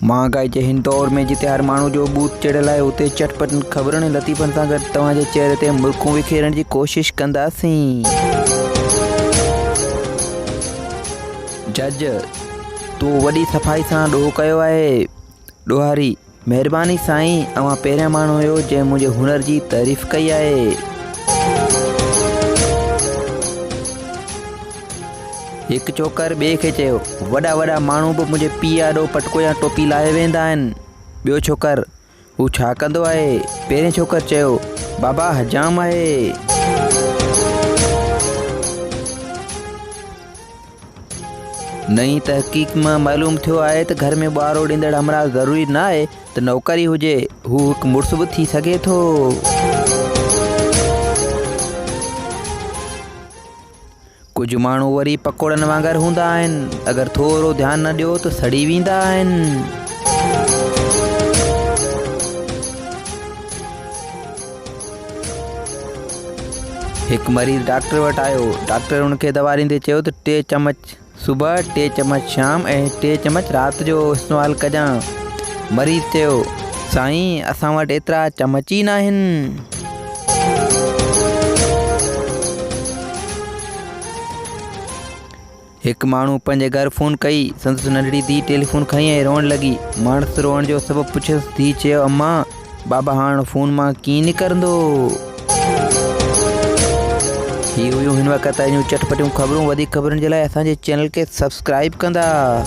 مهانگائي جي هن دور ۾ جتي هر ماڻهو جو ڀوت چڙهيل آهي اتي چٽ پٽن خبرن ۽ لطيفن سان گڏ توهان جي چهري تي مرڪون وکيرڻ جي ڪوشش ڪنداسين. جج، تون وڏي صفائي سان ڏوهه ڪيو آهي. ڏوهاري، مهرباني سائين اوهان پهريان ماڻهو هيو جنهن منهنجي هنر جي تعريف ڪئي آهي. هڪ چوڪر ٻئي کي چيو، وڏا وڏا ماڻهو به منهنجي پيء آڏو پٽڪو يا ٽوپي لاهي ويندا آهن. ٻيو ڇوڪر، هو ڇا ڪندو آهي؟ پهرين ڇوڪر چيو، بابا حجام آهي. نئين تحقيق مان معلوم ٿيو آهي ته گهر ۾ ٻارو ڏيندڙ همراهه ضروري نه آهي ته نوڪر ئي هجي، هو هڪ مڙس به ٿي سگهي ٿو. ڪجهه ماڻهو وري پڪوڙن وانگر هوندا آهن اگر ٿورو ڌيان نه ڏيو ته سڙي ويندا آهن هڪ مريض ڊاڪٽر وٽ آيو ڊاڪٽر ان کي دوا ڏيندي چيو ته ٽي چمچ صبح ٽي چمچ شام ۽ ٽي چمچ رات جو استعمال ڪجان. مريض چيو، سائين اسان وٽ ايترا چمچ ئي ناهن. هڪ ماڻهو پنهنجي گهر فون ڪئي، سندس ننڍڙي ڌيء ٽيليفون کنئي ۽ روئڻ لڳي. ماڻس روئڻ جو سبب پڇيس، ڌيء چيو، امان! بابا هاڻ فون مان ڪيئن نڪرندو؟ هي هيون هن وقت جون چٽپٽيون خبرون وڌيڪ خبرن جي لاء اسان جي چينل کي سبسڪرائب ڪندا